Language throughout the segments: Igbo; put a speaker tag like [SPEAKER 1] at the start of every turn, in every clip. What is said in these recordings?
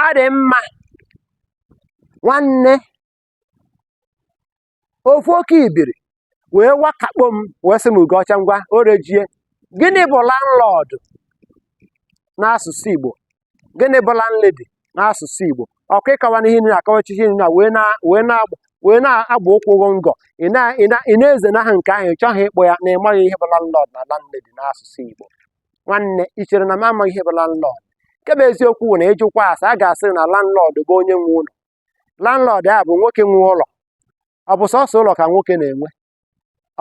[SPEAKER 1] ọ dị mma nwanne ofu oke ibiri wee wakakpo m wee sị m ugocha ngwa orejie gịnị bụ landlord n'asụsụ igbo gịnị bụ landlady n'asụsụ igbo ọkwa ịkọwa n'ihe nri akọwachichi nri na wee na wee na wee na-agba ụkwụ ụgwọ ngọ ị na- ị na- ị na-ezenahụ nke ahụ ị chọghị ịkpọ ya na ị maghị ihe bụ landlord na landlady n'asụsụ igbo nwanne i chere na m amaghị ihe bụ landlord nke bụ eziokwu bụ na ịjụkwa asa a ga-asị na landlord bụ onye nwe ụlọ landlord a bụ nwoke nwe ụlọ ọ bụ sọsọ ụlọ ka nwoke na-enwe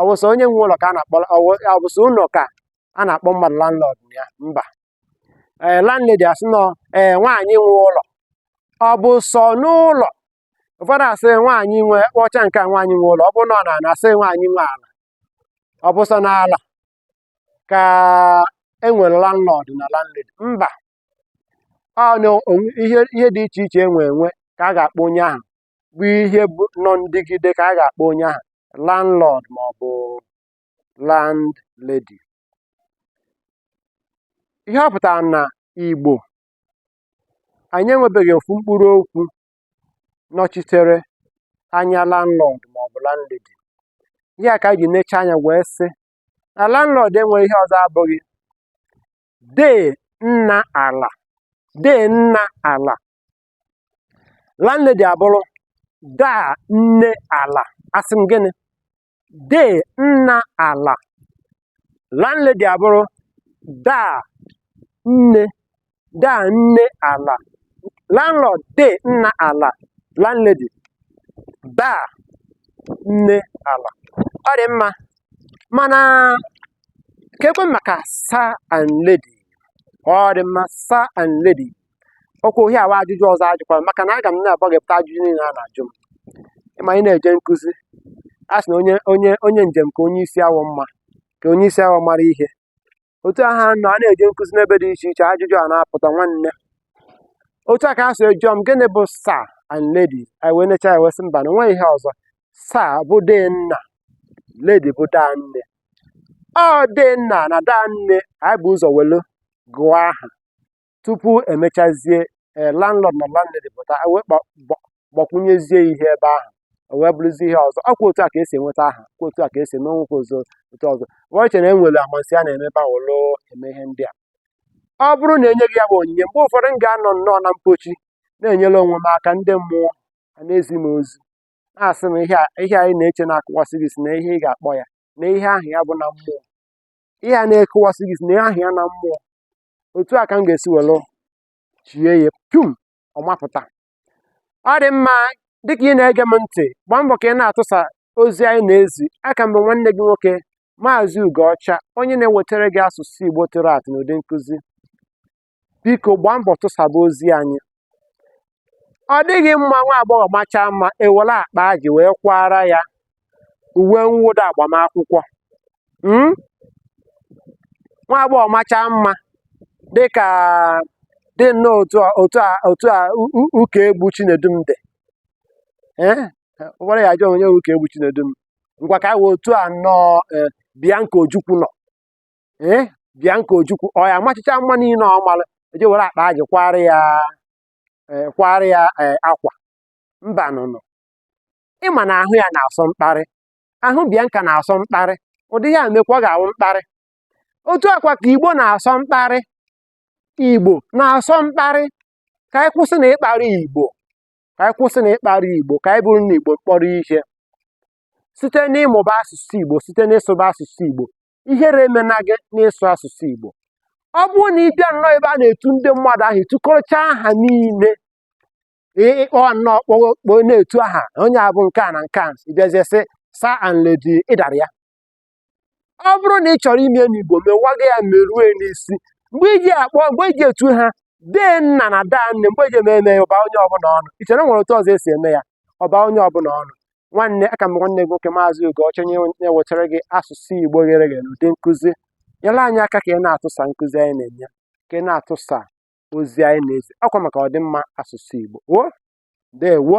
[SPEAKER 1] ọ bụ sọ onye nwe ụlọ ka a na-akpọ ọ bụ- ọ bụ sọ ụlọ ka a na-akpọ mmadụ landlord na ya mba ee landlady a sị na ọ ee nwaanyị nwe ụlọ ọ bụ sọ n'ụlọ ụfọdụ a sị nwaanyị nwe kpọcha nke a nwaanyị nwe ụlọ ọ bụ na ọ na-ana asị nwaanyị nwe ala ọ bụ sọ n'ala ka e nwere landlord na landlady mba ihe ihe dị iche iche e nwe enwe ka a ga-akpọ onye ahụ bụ ihe bụ nọ ndịgide ka a ga-akpọ onye ahụ landlord ma ọ bụ landlady ihe ọ pụtara na Igbo anyị enwebeghị ofu mkpụrụ okwu nọchitere anya landlord ma ọ bụ landlady ihe a ka anyị ji necha anya wee sị na landlord enweghị ihe ọzọ abụghị dee nna ala dee nna ala landlady abụrụ daa nne ala asị m gịnị dee nna ala landlady abụrụ daa nne daa nne ala landlord dee nna ala landlady daa nne ala ọ dị mma mana kekwe maka sir and lady ọ dị mma sir and lady okwu ọhịa awa ajụjụ ọzọ a jụkwara maka na aga m na-agbaghepụta ajụjụ niile a na-ajụ m ị ma ị na-eje nkụzi a sị na onye onye onye njem ka onye isi awọ mma ka onye isi awọ mara ihe otu a ha nọ a na-eje nkụzi n'ebe dị iche iche ajụjụ a na-apụta nwanne otu a ka ha si jụọ m gịnị bụ sir and lady anyị wee necha wee sị mba na o nweghị ihe ọzọ sir bụ dee nna lady bụ daa nne ọ dee nna na daa nne anyị bu ụzọ welu gụọ aha tupu e mechazie ee landlord na landlady pụta wee gbakwunyezie ihe ebe ahụ o wee bụrụzie ihe ọzọ ọkwa otu a ka e si enweta aha ọkwa otu a ka e si eme nwekwa ọzọ otu ọzọ wee chere e nwere amansi a na-eme ebe ahụ lụọ eme ihe ndị a ọ bụrụ na e nye gị ya bụ onyinye mgbe ụfọdụ m ga-anọ nnọọ na mpochi na-enyere onwe m aka ndị mmụọ a na-ezi m ozi na-asị m ihe a ị na-eche na-akụwasị gị isi na ihe ị ga-akpọ ya na ihe ahụ ya bụ na mmụọ ihe a na-akụwasị gị isi na ihe ahụ ya na mmụọ otu a ka m ga-esi were chie ya pum ọ mapụta ọ dị mma dịka ị na-ege m ntị gbaa mbọ ka ị na-atụsa ozi anyị na-ezi aka m bụ nwanne gị nwoke maazị Ugoọcha onye na-ewetara gị asụsụ Igbo tụrụ atụ n'ụdị nkụzi biko gbaa mbọ tụsaba ozi anyị ọ dịghị mma nwa agbọghọ machaa mma e were akpa ajị wee kwaara ya uwe mwụda agbamakwụkwọ hmm? nwa agbọghọ machaa mma dịka dị nnọọ otu a otu a otu a Ụkaegbu Chinedum dị eh? ugbuala ya ajụọ onye Ụkaegbu Chinedum ngwa ka anyị wee otu a nnọọ eh, Bianca Ojukwu nọ ee eh, Bianca Ojukwu ọ ya amachicha mma niile ọ mara e je were akpa ajị kwaara ya eh, kwaara ya eh, akwa mba nụnụ ị ma na ahụ ya na-asọ mkparị ahụ Bianca na-asọ mkparị ụdị ihe a mekwa ọ ga-awụ mkparị otu a kwa ka igbo na-asọ mkparị igbo na-asọ mkparị ka anyị kwụsị na ịkparị igbo ka anyị kwụsị na ịkparị igbo ka anyị bụrụ na igbo mkpọrọ ihe site n'ịmụba asụsụ igbo site n'ịsụba asụsụ igbo ihere emena gị n'ịsụ asụsụ Igbo ọ bụrụ na ị bịa nnọọ ebe a na-etu ndị mmadụ aha i tukọrọchaa aha niile ị kpọ nnọọ kpọọ na-etu aha onye abụ nke a na nke a ị bịazie sị sir and lady ị dara ya ọ bụrụ na ị chọrọ ime n'Igbo mewaga ya merue n'isi mgbe i ji akpọ mgbe i ji etu ha dee nna na daa nne mgbe e ji eme eme ya ọ baa onye ọbụla ọnụ i chere e nwere otu ọzọ e si eme ya ọ baa onye ọbụla ọnụ nwanne aka m bụ nwanne gị nwoke maazị Ugoọcha onye na-ewetara gị asụsụ Igbo ghere eghe n'ụdị nkụzi nyere anyị aka ka ị na-atụsa nkụzi anyị na-enye ka ị na-atụsa ozi anyị na-ezi ọ kwa maka ọdịmma asụsụ Igbo o ndewo